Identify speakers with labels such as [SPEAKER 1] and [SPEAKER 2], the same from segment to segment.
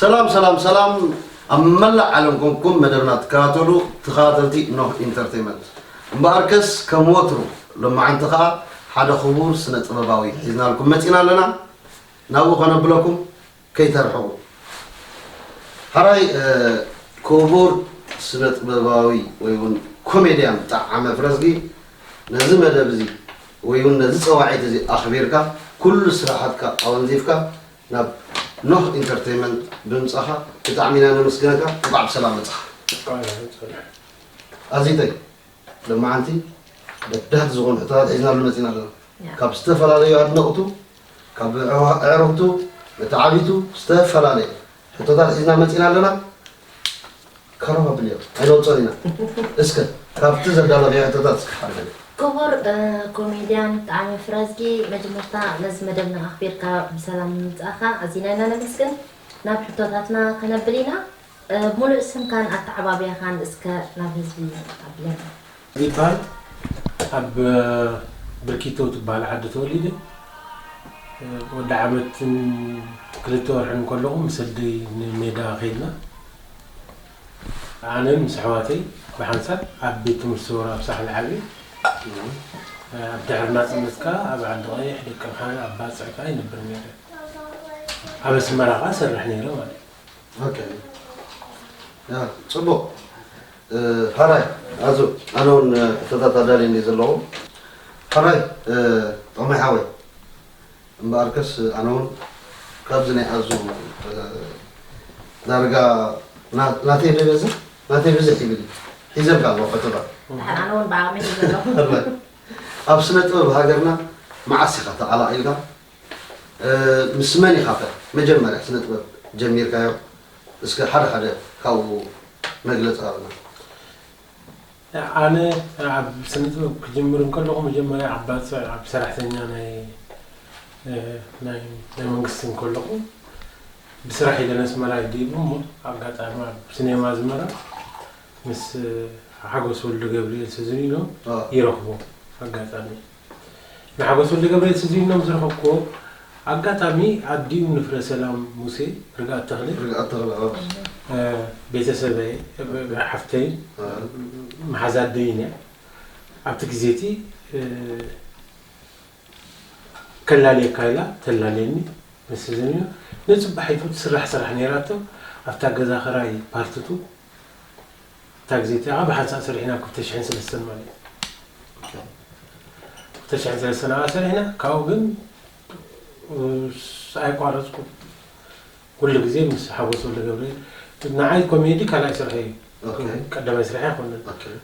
[SPEAKER 1] ሰላም ሰላም ሰላም ኣብ መላእ ዓለም ኮንኩም መደብና ትከታተሉ ተኸታተልቲ ኖህ ኢንተርቴንመንት እምበኣርከስ ከም ወትሩ ሎማዓንቲ ከዓ ሓደ ክቡር ስነ ጥበባዊ ሒዝናልኩም መፂና ኣለና ናብኡ ከነብለኩም ከይተርሕቁ ሐራይ ኩቡር ስነጥበባዊ ወይ ውን ኮሜድያን ብጣዓመ ፍረዝጊ ነዚ መደብ እዚ ወይ ውን ነዚ ጸዋዒት እዚ ኣኽቢርካ ኩሉ ስራሓትካ ኣወንዚፍካ ናብ ኖህ ኢንተርተይመንት ብምጻኻ ብጣዕሚ ኢና ነመስግነካ እንቋዕ ብሰላም መጻኻ ኣዚተይ ለማዓንቲ በዳህቲ ዝኾኑ ሕቶታት ሒዝናሉ መጺና ኣለና ካብ ዝተፈላለዩ ኣድነቅቱ ካብ ኣዕሩኽቱ መተዓብይቱ ዝተፈላለየ ሕቶታት ሒዝና መፂና ኣለና ካሮብ ኣብልዮ ኣይነውፅኦን ኢና እስከ ካብቲ ዘዳለኽዮ ሕቶታት እስከ ሓደ በሊ። ክቡር
[SPEAKER 2] ኮሜድያን ጣዕመ ፍረዝጊ መጀመርታ ነዚ መደብና ኣኽቢርካ ብሰላም ምምፃእኻ ኣዚና ኢና ነመስግን። ናብ ሕቶታትና ከነብል ኢና። ሙሉእ ስምካን ኣተዓባብያኻን እስከ
[SPEAKER 3] ናብ ህዝቢ ኣብለን። ይባል ኣብ ብርኪቶ ትባሃል ዓዲ ተወሊደ ወዲ ዓመትን ክልተ ወርሕን ከለኹ ምስ ኣደይ ንሜዳ ከይድና ኣነን ምስ ኣሕዋተይ ብሓንሳብ ኣብ ቤት ትምህርቲ ሰውራ ኣብ ሳሕል ዓብየ ኣብ ድሕሪ ናጽነት ከኣ ኣብ ዓዲ ቀይሕ ደቀምሓረ ኣብ ባጽዕ ከኣ ይነብር ነይረ ኣብ ኣስመራ ከኣ እሰርሕ ነይረ ማለት እዩ።
[SPEAKER 1] ፅቡቕ ሐራይ ኣዙ ኣነ ውን ሕቶታት ኣዳልየን እየ ዘለዎ ሐራይ ጥቕሚ ሓወይ እምበኣርከስ ኣነ ውን ካብዚ ናይ ኣዙ ዳርጋ ናተይ ደበዝሕ ናተይ ብዝሕ ይብል ሒዘልካ ኣለዎ ፈተባ ኣነ ውን
[SPEAKER 2] ብዓቕሚ ኣብ ስነ
[SPEAKER 1] ጥበብ ሃገርና መዓስ ኢኻ ተቐላቒልካ ምስ መን ኢኻ ከ መጀመርያ ስነ ጥበብ ጀሚርካዮ እስከ ሓደ ሓደ ካብኡ መግለጺ ሃበና። ኣነ
[SPEAKER 3] ኣብ ስነ ጥበብ ክጅምር እንከለኹ መጀመርያ ኣብ ባጽዕ ኣብ ሰራሕተኛ ናይ ናይ መንግስቲ እንከለኹ ብስራሕ ኢለ ነስመራ ይዲቡ እሞ ኣጋጣሚ ኣብ ስኔማ ኣዝመራ ምስ ሓጎስ ወልደገብርኤል ስዝሪኖ ይረኽቦ ኣጋጣሚ ንሓጎስ ወልደገብርኤል ስዚኖም ዝረኸብኩዎ ኣጋጣሚ ኣዲኡ ንፍረሰላም ሙሴ፣ ርግኣት ተኽለ፣ ርግኣት ተኽለ ኣዎ ቤተሰበይ ሓፍተይን መሓዛ ኣደይን እያ ኣብቲ ግዜ እቲ ከላልየካ ኢላ ተላልየኒ ምስ ስዚኖ ንጽባሒቱ ትስራሕ ስራሕ ነይራቶ ኣብታ ገዛ ክራይ ፓርትቱ እታ ግዜ እቲኣ ብሓንሳእ ሰሪሕና ክልተ ሽሕን ሰለስተን ማለት እዩ ክልተ ሽሕን ሰለስተን ኣብኣ ሰሪሕና ካብኡ ግን ኣይቋረፅኩ ኩሉ ግዜ ምስ ሓጎስ ወልደገብርኤል ንዓይ ኮሜዲ ካልኣይ ስርሐ እዩ ቀዳማይ ስርሐ ኣይኮነን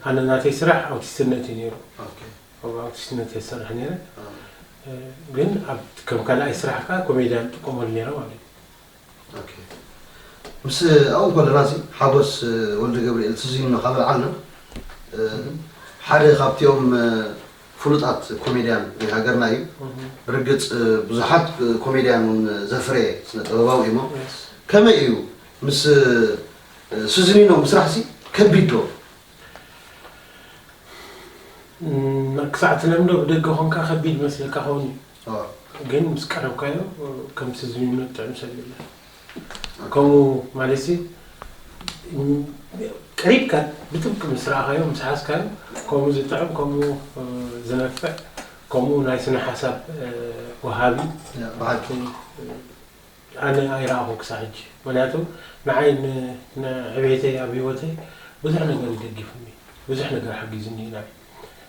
[SPEAKER 3] ኣነ ናተይ ስራሕ ኣውቲስትነት እዩ ነይሩ ኣብ ኣውቲስትነት እየ ዝሰርሕ ነይረ ግን ከም ካልኣይ ስራሕ ከዓ ኮሜድያን ጥቀመሉ ነይረ ማለት እዩ
[SPEAKER 1] ምስ ኣብኡ ከለና እዚ ሓጎስ ወልደገብርኤል ትዝ ኢሉና ካብ ኣልዓልና ሓደ ካብቲኦም ፍሉጣት ኮሜድያን ናይ ሃገርና እዩ ብርግፅ ብዙሓት ኮሜድያን እውን ዘፍረየ ስነ ጥበባዊ እዩሞ ከመይ እዩ ምስ ስዝኒኖ ምስራሕ ሲ ከቢድ ዶ
[SPEAKER 3] ክሳዕ ትለምዶ ብደገ ኮንካ ከቢድ መስለካ ኸውን እዩ ሶር። ግን ምስ ቀረብካዮ ከምቲ ዝምነዮ ጥዕም ሰብ የለን ከምኡ ማለትሲ ቀሪብካ ብጥብቂ ምስ ረኣኻዮ ምስ ሓዝካዮ ከምኡ ዝጥዕም ከምኡ ዘነፍዕ ከምኡ ናይ ስነ ሓሳብ ወሃቢ ብሓቂ ኣነ ኣይረኣኹን ክሳዕ ሕጂ ምክንያቱ ንዓይ ንዕቤተይ ኣብ ሂወተይ ብዙሕ ነገር እዩ ደጊፉኒ ብዙሕ ነገር ሓጊዙኒ እዩ ናይ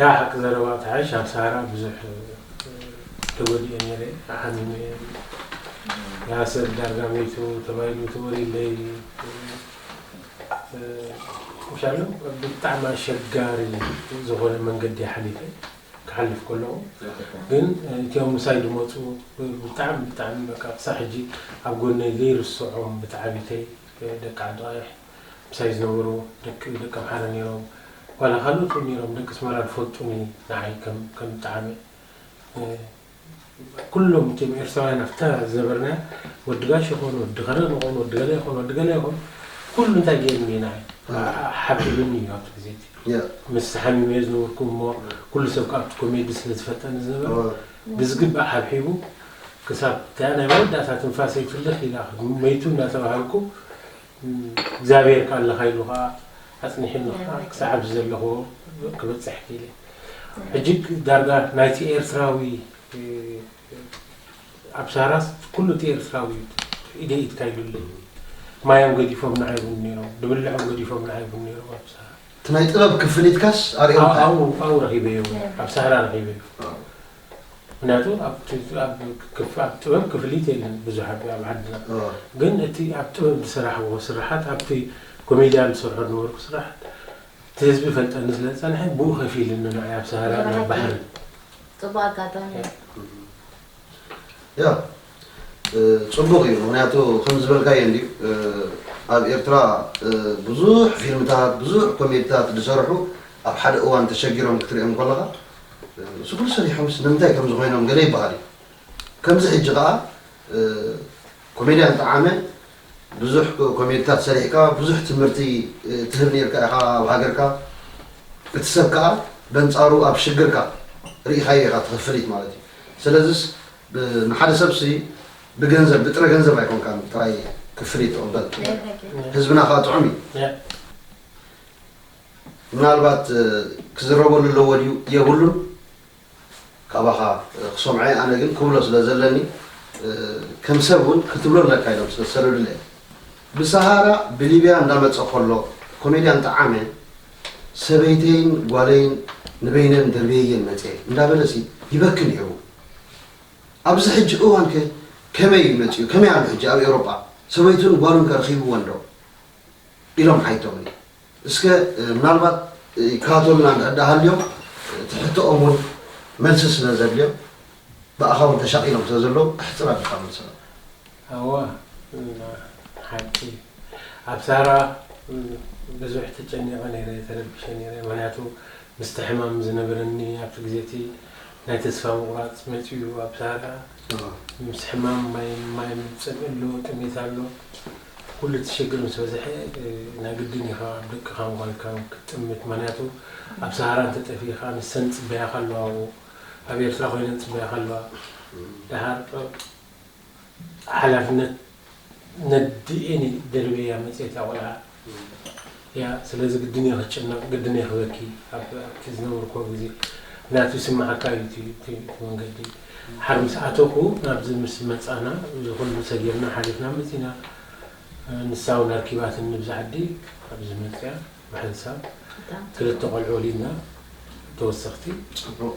[SPEAKER 3] ያእ ሓቂ ዘረባ ትሓሽ ኣብ ሳራ ብዙሕ ተጎዲኤ ነይረ ተሓሚመ እየ ያእ ሰብ ዳርጋ ሞይቱ ተባሂሉ ተወሪለይ ምሻሉ ብጣዕሚ ኣሸጋሪ ዝኾነ መንገዲ ሓሊፈ ክሓልፍ ከለኹ ግን እቲኦም ምሳይ ዝመፁ ብጣዕሚ ብጣዕሚ በቃ ክሳብ ሕጂ ኣብ ጎነይ ዘይርስዖም ብታዕቢተይ ደቂ ዓዲ ቐይሕ ምሳይ ዝነበሩ ደቂ ደቂ ኣምሓረ ኔሮም ዋላ ካልኦት ውን ኔሮም ደቂ ኣስመራ ዝፈልጡኒ ንዓይ ከም ከም ብጣዕሚ ኩሎም እቶም ኤርትራውያን ኣብታ ዝነበርና ወዲ ጋሽ ይኹን ወዲ ከረን ይኹን ወዲ ገለ ይኹን ወዲ ገለ ይኹን ኩሉ እንታይ ገይሩኒ እዩ ንዓይ ሓቢሉኒ እዩ ኣብቲ ግዜ እቲ ምስ ተሓሚመ እየ ዝነበርኩ እሞ ኩሉ ሰብ ከ ኣብቲ ኮሜዲ ስለ ዝፈልጠኒ ዝነበረ ብዝግባእ ሓብሒቡ ክሳብ እታ ናይ መወዳእታ ትንፋሰይ ፍልኽ ኢላ መይቱ እናተባሃልኩ እግዚኣብሔር ከኣ ኣለኻ ኢሉ ከኣ ኣጽኒሑኒ ከኣ ክሳዕ ኣብዚ ዘለኽዎ ክበጽሕ ክኢለ ሕጂ ዳርጋ ናይቲ ኤርትራዊ ኣብ ሳራስ ኩሉ እቲ ኤርትራዊ እዩ ኢደይ ኢድካ ኢሉለይ ማዮም ገዲፎም ንዓይቡን ነይሮም ድብልዖም ገዲፎም ንዓይቡን ነይሮም ኣብ ሳራ እቲ ናይ ጥበብ
[SPEAKER 1] ክፍሊትካስ ኣርኦምካ ኣብኡ ኣብኡ ረኺበዮ
[SPEAKER 3] ኣብ ሳራ ረኺበዮ ምክንያቱ ኣብ ጥበብ ክፍሊት የለን ብዙሕ ኣብ ዓድና ግን እቲ ኣብ ጥበብ ዝሰራሕዎ ስርሓት ኣብቲ ኮሜድያን ዝሰርሖ ዝነበርኩ ስርሓት እቲ ህዝቢ ይፈልጠኒ ስለ ዝጸንሐ ብኡ ከፊልኒ ንዓይ ኣብ ሳህራን ኣብ ባሕርን ጽቡቅ
[SPEAKER 2] ኣጋጣሚ እዩ።
[SPEAKER 1] ፅቡቅ እዩ ምክንያቱ ከምዝበልካዮ እንድዩ ኣብ ኤርትራ ብዙሕ ፊልምታት ብዙሕ ኮሜድታት ዝሰርሑ ኣብ ሓደ እዋን ተሸጊሮም ክትሪኦም ከለካ እሱ ኩሉ ሰሪሖምስ ንምንታይ ከምዚ ኮይኖም ገለ ይበሃል እዩ ከምዚ ሕጂ ከዓ ኮሜድያን ጠዓመ ብዙሕ ኮሜድታት ሰሪሕካ ብዙሕ ትምህርቲ ትህብ ነርካ ኢካ ኣብ ሃገርካ እቲ ሰብ ከዓ በንፃሩ ኣብ ሽግርካ ርኢካዮ ኢካ እቲ ክፍሊት ማለት እዩ ስለዝስ ንሓደ ሰብ ሲ ብገንዘብ ብጥረ ገንዘብ ኣይኮንካን ጥራይ ክፍሊት ትቕበል ትብሎ ህዝብና ከኣ ጥዑም እዩ ምናልባት ክዝረበሉ ኣለዎ ድዩ የብሉን ካባኻ ክሰምዖ እየ ኣነ ግን ክብሎ ስለ ዘለኒ ከም ሰብ እውን ክትብሎ ኣለካ ኢሎም ስለ ዝሰደዱለ ብሰሃራ ብሊብያ እንዳመፀ ከሎ ኮሜድያን ጠዓመ ሰበይተይን ጓለይን ንበይነን ደርብየየን መፀ እንዳበለሲ ይበኪ ነይሩ ኣብዚ ሕጂ እዋን ከ ከመይ እዩ መጺኡ ከመይ ኣሎ ሕጂ ኣብ ኤውሮጳ ሰበይቱን ጓሉን ከ ረኺብወን ዶ ኢሎም ሓይቶምኒ እስከ ምናልባት ይከታተሉና እንድሕር ደኣ ሃልዮም እቲ ሕቶኦም እውን መልሲ ስለ ዘድልዮም ብኣኻ እውን ተሻቒሎም ስለ ዘለዉ ኣሕጽር ኣቢልካ መልሰሎም። ኣወ
[SPEAKER 3] ሓቂ ኣብ ሳራ ብዙሕ ተጨኒቐ ነይረ ተረቢሸ ነይረ ምክንያቱ ምስቲ ሕማም ዝነበረኒ ኣብቲ ግዜ እቲ ናይ ተስፋ ምቑራጽ መጺኡ ኣብ ሳራ ምስ ሕማም ማይ ማይ ምጽእ ኣሎ ጥሜት ኣሎ ኩሉ እቲ ሽግር ምስ በዝሐ ናይ ግድን ኢኻ ኣብ ደቅኻን ጓልካን ክትጥምት ምክንያቱ ኣብ ሳራ እንተ ጠፊእኻ ንሰን ጽበያኻ ኣለዋ ኣብ ኤርትራ ኮይነን ጽበያኻ ኣለዋ ደሃር ሓላፍነት ነዲኤኒ ደርብየያ መፅየት እያ ቆልዓ እያ ስለዚ ግድን እየ ክትጭነቕ ግድን እየ ክበኪ ኣብቲ ዝነበርክዎ ግዜ ምክንያቱ ይስመዓካ እዩ እቲ መንገዲ ሓር ምስ ኣተኹ ናብዚ ምስ መፃና እዚ ኩሉ ሰጊርና ሓሊፍና መፂና ንሳ እውን ኣርኪባትኒ ንብዚ ዓዲ ኣብዚ መፅኣ ብሓንሳብ ክልተ ቆልዑ ወሊድና ተወሰኽቲ ፅቡቕ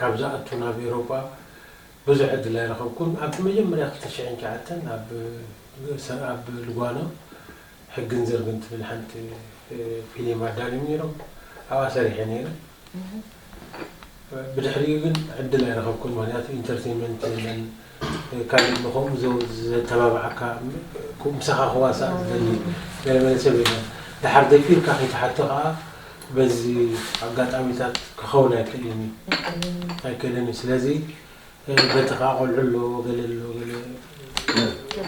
[SPEAKER 3] ካብ ዝኣቱ ናብ ኤሮጳ ብዙሕ ዕድል ኣይረኸብኩን። ኣብቲ መጀመርያ ክልተ ሽሕን ትሽዓተን ኣብ ኣብ ልጓኖ ሕግን ዝርግን ትብል ሓንቲ ፊሊም ኣዳልዮም ነይሮም። ኣብኣ ሰሪሐ ነይረ። ብድሕሪኡ ግን ዕድል ኣይረኸብኩን ምክንያቱ ኢንተርተይመንት የለን። ካልእ ንከምኡ ዘተባብዓካ ምሳኻ ክዋሳእ ዝደሊ ገለ መለ ሰብ የለን። ደሓር ደፊርካ ከይትሓቶ ከኣ በዚ ኣጋጣሚታት ክኸውን ኣይክእልን እዩ ኣይክእልን እዩ። ስለዚ በቲ ከኣ ቆልዑ ኣሎ ገለ ኣሎ ገለ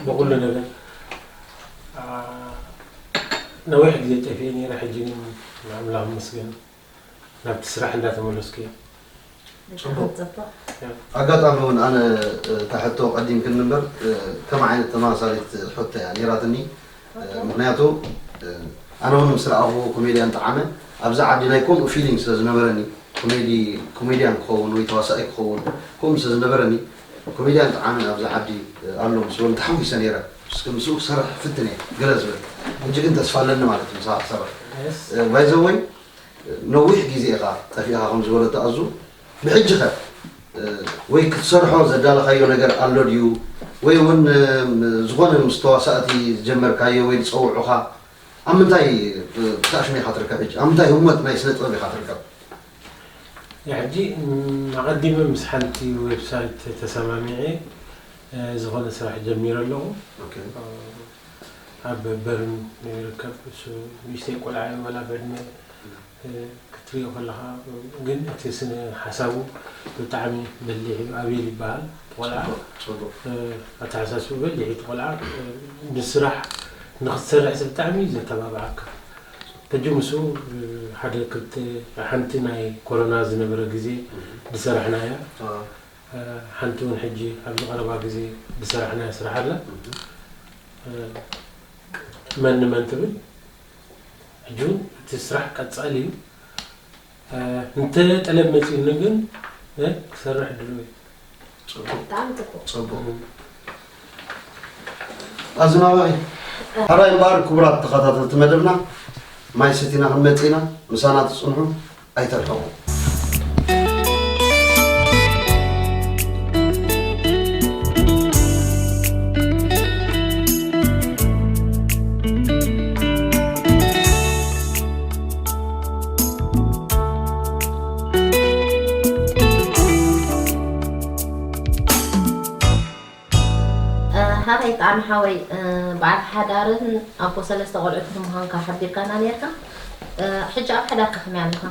[SPEAKER 3] ብኹሉ ነገር ነዊሕ ግዜ ጠፊኤ ነይረ ሕጂ ግን ንኣምላኽ ይመስገን። ናብቲ ስራሕ እንዳተመለስኩ እየ። ጽቡቅ
[SPEAKER 1] ጽቡቅ። ኣጋጣሚ ውን ኣነ እታ ሕቶ ቀዲምክኒ እምበር ከምኣ ዓይነት ተመሳሳሊት ሕቶ እያ ኔራትኒ ምክንያቱ ኣነ ውን ምስ ረኣክዎ ኮሜድያን ጠዓመ ኣብዚ ዓዲ ናይ ከምኡ ፊሊንግ ስለ ዝነበረኒ ኮሜዲ ኮሜድያን ክከውን ወይ ተዋሳኣይ ክከውን ከምኡ ስለ ዝነበረኒ ኮሜድያን ጠዓመ ኣብዚ ዓዲ ኣሎ ምስ በሉ ተሓጒሰ ነይረ። እስከ ምስኡ ክሰርሕ ክፍትን እየ ገለ ዝብል። ሕጂ ግን ተስፋ ኣለኒ ማለት እዩ ምሳኻ ክሰርሕ። ባይዘወይ ነዊሕ ግዜ ኢኻ ጠፊእኻ ከም ዝበለቶ ኣዙ ብሕጂኸ ወይ ክትሰርሖ ዘዳለኻዮ ነገር ኣሎ ድዩ ወይ እውን ዝኾነ ምስ ተዋሳእቲ ዝጀመርካዮ ወይ ዝጸውዑኻ ኣብ ምንታይ ፕታሽን ኢኻ ትርከብ ሕጂ ኣብ ምንታይ ህሞት ናይ ስነ ጥበብ ኢኻ ትርከብ?
[SPEAKER 3] ንሕጂ ኣቐዲመ ምስ ሓንቲ ዌብሳይት ተሰማሚዐ ዝኾነ ስራሕ ጀሚረ ኣለኹ። ኣብ በርን ይርከብ እሱ ንእሽተይ ቆልዓ እዩ ወላ ብዕድመ ክትሪኦ ከለኻ ግን እቲ ስነ ሓሳቡ ብጣዕሚ በሊሕ እዩ። ኣቤል ይበሃል እቲ ቆልዓ ኣተሓሳስብኡ በሊሕ እዩ እቲ ቆልዓ ንስራሕ ንኽትሰርሕ ብጣዕሚ እዩ ዘተባብዓካ። ሕጂ ምስኡ ሓደ ክልተ ሓንቲ ናይ ኮሮና ዝነበረ ግዜ ድሰራሕና እያ ሓንቲ ውን ሕጂ ኣብዚ ቀረባ ግዜ ድሰራሕናያ ስራሕ ኣላ መን ንመን ትብል ሕጂ ውን እቲ ስራሕ ቀጻሊ እዩ። እንተ ጠለብ መጺኡኒ ግን ክሰርሕ ድሉው እየ።
[SPEAKER 1] ኣዝማማይ ሕራይ እምበኣር ክቡራት ተኸታተልቲ መደብና ማይ ሰቲና ክንመፅእ ኢና ምሳና ትፅንሑ ኣይተርሕቑ
[SPEAKER 2] ሓቀይ ጣዕሚ ሓወይ በዓል ሓዳርን ኣቦ ሰለስተ ቆልዑትን ምዃንካ ሓቢርካና ነርካ ሕጂ ኣብ ሓዳርካ ከመይ ኣለኻ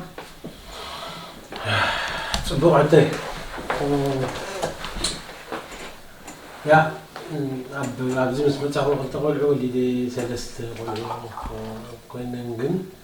[SPEAKER 3] ፅቡቅ ዕተይ ያ ኣብዚ ምስ መፃኹ ክልተ ቆልዑ ወሊደ ሰለስተ ቆልዑ ኮይነን ግን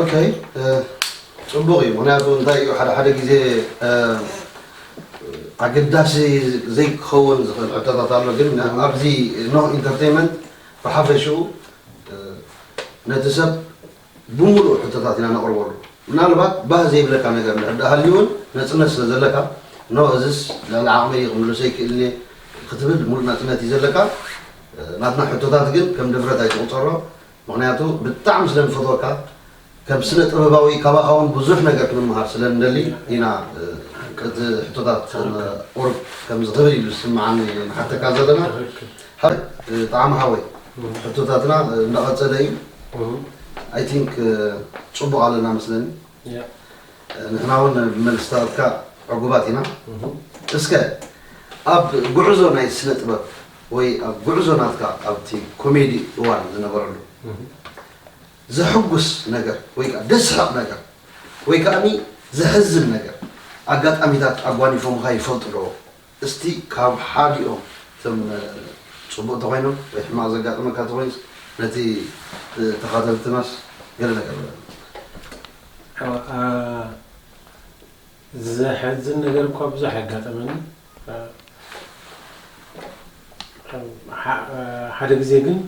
[SPEAKER 1] ኦኬ ፅቡቕ እዩ ምክንያቱ እንታይ እዩ ሓደ ሓደ ግዜ ኣገዳሲ ዘይክኸውን ዝኽእል ሕቶታት ኣሎ ግን ኣብዚ ኖ ኢንተርቴንመንት ብሓፈሽኡ ነቲ ሰብ ብምሉእ ሕቶታት ኢና ነቕርበሉ ምናልባት ባህ ዘይብለካ ነገር እንድሕር ዳኣ ሃልዩ እውን ነፅነት ስለ ዘለካ ኖ እዝስ ልዕሊ ዓቕመይ ክምልሶ ይክእልኒ ክትብል ሙሉእ ናፅነት እዩ ዘለካ ናትና ሕቶታት ግን ከም ድፍረት ኣይትቑፀሮ ምኽንያቱ ብጣዕሚ ስለ ንፈትወካ ከም ስነ ጥበባዊ ካባኻ ውን ብዙሕ ነገር ክንመሃር ስለ ንደሊ ኢና እቲ ሕቶታት ቁሩብ ከምዚ ክብል ኢሉ ዝስመዓኒ ንሓተካ ዘለና ሃብት ጣዕሚ ሓወይ ሕቶታትና እንዳቐጸለ እዩ ኣይ ቲንክ ጽቡቕ ኣለና መስለኒ ንሕና ውን ብመልስታትካ ዕጉባት ኢና እስከ ኣብ ጉዕዞ ናይ ስነ ጥበብ ወይ ኣብ ጉዕዞ ናትካ ኣብቲ ኮሜዲ እዋን ዝነበረሉ ዘሕጉስ ነገር ወይ ከኣ ደስሕቕ ነገር ወይ ከኣኒ ዘሕዝን ነገር ኣጋጣሚታት ኣጓኒፎምኻ ይፈልጡ ዶ? እስቲ ካብ ሓዲኦም እቶም ጽቡቕ እንተኾይኖም ወይ ሕማቕ ዘጋጠመካ እንተኾይኑስ ነቲ ተኻተልትናስ ገለ ነገር በለና።
[SPEAKER 3] ዘሕዝን ነገር እኳ ብዙሕ ኣጋጠመኒ። ሓደ ግዜ ግን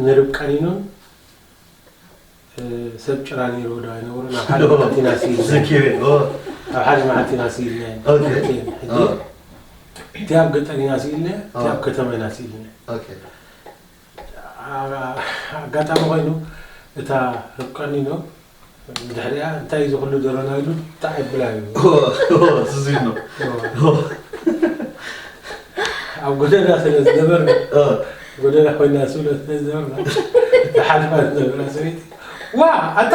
[SPEAKER 3] ንርብቃ ኒኖን ሰብ ጭራ ነይርዎ ዶ ኣይነበሮን ኣብ ሓደ መዓልቲ ኢና ስኢልና ዘኪረ ኦ ኣብ
[SPEAKER 1] ሓደ
[SPEAKER 3] መዓልቲ ኢና ስኢልና ኦኬ። ክልቲኤን ሕጂ ኦ እቲ ኣብ ገጠር ኢና ስኢልና እቲ ኣብ ከተማ ኢና ስኢልና ኦኬ። ኣጋጣሚ ኮይኑ እታ ርብቃኒኖ ብድሕሪኣ እንታይ እዚ ኩሉ ደሮና ኢሉ ጣዕ የብላ እዩ
[SPEAKER 1] ዝዚኖ
[SPEAKER 3] ኣብ ጎደና ስለ ዝነበርና ጎደና ኮይና ስብለ ስለ ዝነበርና ዝሓልፋ ዝነበራ ሰበይቲ ዋ ኣታ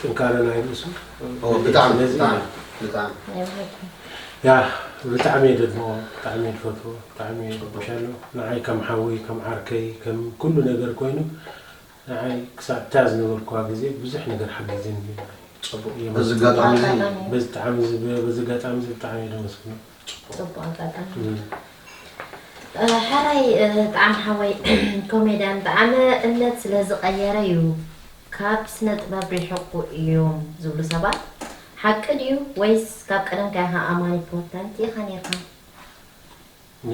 [SPEAKER 3] ጥንካረ ናይ ርእሱ ብጣዕሚ ብጣዕሚ
[SPEAKER 1] ብጣዕሚ
[SPEAKER 3] ያ ብጣዕሚ እየ ደድንቆ ብጣዕሚ እየ ዝፈትዎ ብጣዕሚ እየ ዝሕጎሻሉ ንዓይ ከም ሓወይ ከም ዓርከይ ከም ኩሉ ነገር ኮይኑ ንዓይ ክሳብ እታ ዝነበርኩዋ ግዜ ብዙሕ ነገር ሓጊዙኒ እዩ ፅቡቅ እዩ በዚ
[SPEAKER 1] ኣጋጣሚ እዚ
[SPEAKER 3] በዚ ኣጋጣሚ እዚ ብጣዕሚ እየ ደመስግኖ ጽቡቅ ኣጋጣሚ
[SPEAKER 2] ሕራይ ጣዕም ሓወይ ኮሜድያን ጣዕመ እምነት ስለ ዝቀየረ ዩ ካብ ስነ ጥበብ ሪሕቁ እዮም ዝብሉ ሰባት ሓቂ ድዩ ወይስ ካብ ቀደምካ ኢካ ኣማኒ ፕሮተንት ኢካ ኔርካ።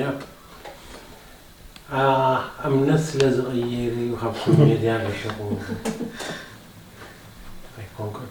[SPEAKER 3] ያፕ እምነት ስለ ዝቀየረ ዩ ካብ ኮሜድያን ሪሕቁ ኣይኮንኩን።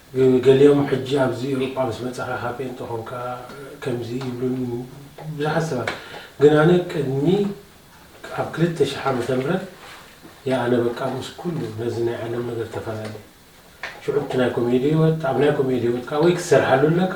[SPEAKER 3] ገሊኦም ሕጂ ኣብዚ ኤውሮጳ ምስ በጻኻ ካብ ጴንጠ ኮንካ ከምዚ ይብሉኒ ብዙሓት ሰባት ግን ኣነ ቅድሚ ኣብ ክልተ ሽሕ ዓመተ ምህረት እያ ኣነ በቃ ምስ ኩሉ ነዚ ናይ ዓለም ነገር ተፈላለየ ሽዑ እቲ ናይ ኮሜዲ ህይወት ኣብ ናይ ኮሜዲ ህይወት ከኣ ወይ ክትሰርሓሉ ኣለካ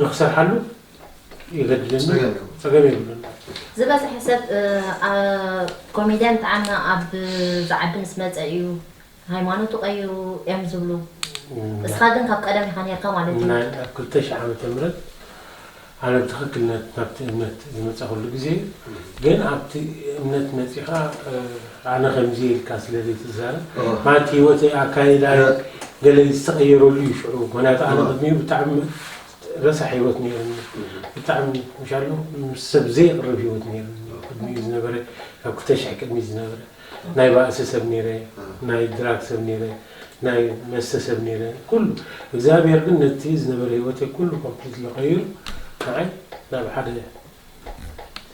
[SPEAKER 3] ንክሰርሓሉ የገድደኒ ፀገም የብሉን። ዝበዝሐ ሰብ
[SPEAKER 2] ኮሜድያን ጣዕመ ኣብ ዝዓዲ ምስ መፀ እዩ ሃይማኖቱ ቀይሩ እዮም ዝብሉ እስኻ ግን ካብ ቀደም ኢኻ ነርካ ማለት እዩ። ናይ ኣብ ክልተ ሽሕ ዓመተ
[SPEAKER 3] ምህረት ኣነ ብትኽክል ናብቲ እምነት ዝመፃኹሉ ግዜ ግን ኣብቲ እምነት መፂኻ ኣነ ከምዚ ኢልካ ስለ ዘይትዛረብ ማለት ሂወተይ ኣካይዳይ ገለ ዝተቀየረሉ እዩ ሽዑ ምክንያቱ ኣነ ቅድሚኡ ብጣዕሚ ረሳሕ ሂወት ነይሩኒ ብጣዕሚ ምሻሉ ምስ ሰብ ዘይቅርብ ሂወት ነይሩኒ ቅድሚኡ ዝነበረ ካብ ክልተ ሽሕ ቅድሚት ዝነበረ ናይ ባእሲ ሰብ ነይረ ናይ ድራግ ሰብ ነይረ ናይ መስተ ሰብ ነይረ ኩሉ እግዚኣብሔር ግን ነቲ ዝነበረ ሂወተይ ኩሉ ኮምፕሊትሊ ቀይሩ ንዓይ ናብ ሓደ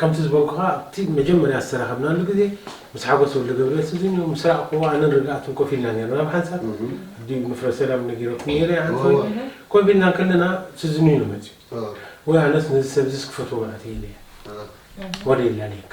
[SPEAKER 3] ከምቲ ዝበልኩኻ ኣብቲ መጀመርያ ዝተራኸብናሉ ግዜ ምስ ሓጎስ ወልደገብርኤል ስዚንዮ ምስ ራእኩዎ ኣነን ርግኣትን ኮፍ ኢልና ኔርና ኣብ ሓንሳብ ኣብዲ ንፍረ ሰላም ነጊረኩም ኔረ እያ ኣንቶኒ ኮፍ ኢልና ከለና ስዚንዮ እዩ መጺኡ ወይ ኣነስ ነዚ ሰብዚስ ክፈትዎ ማለት እየ ኢለያ ወረ ይላለየካ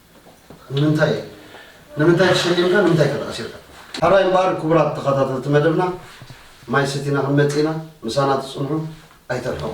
[SPEAKER 2] ንምንታይ
[SPEAKER 1] ንምንታይ ተሸሊምካ ንምንታይ ከ ተኣሲርካ? ሕራይ እምበኣር ክቡራት ተኸታተልቲ መደብና ማይ ሰቲና ክንመጽእ ኢና ምሳና ትጽንሑ ኣይትርሕቁ።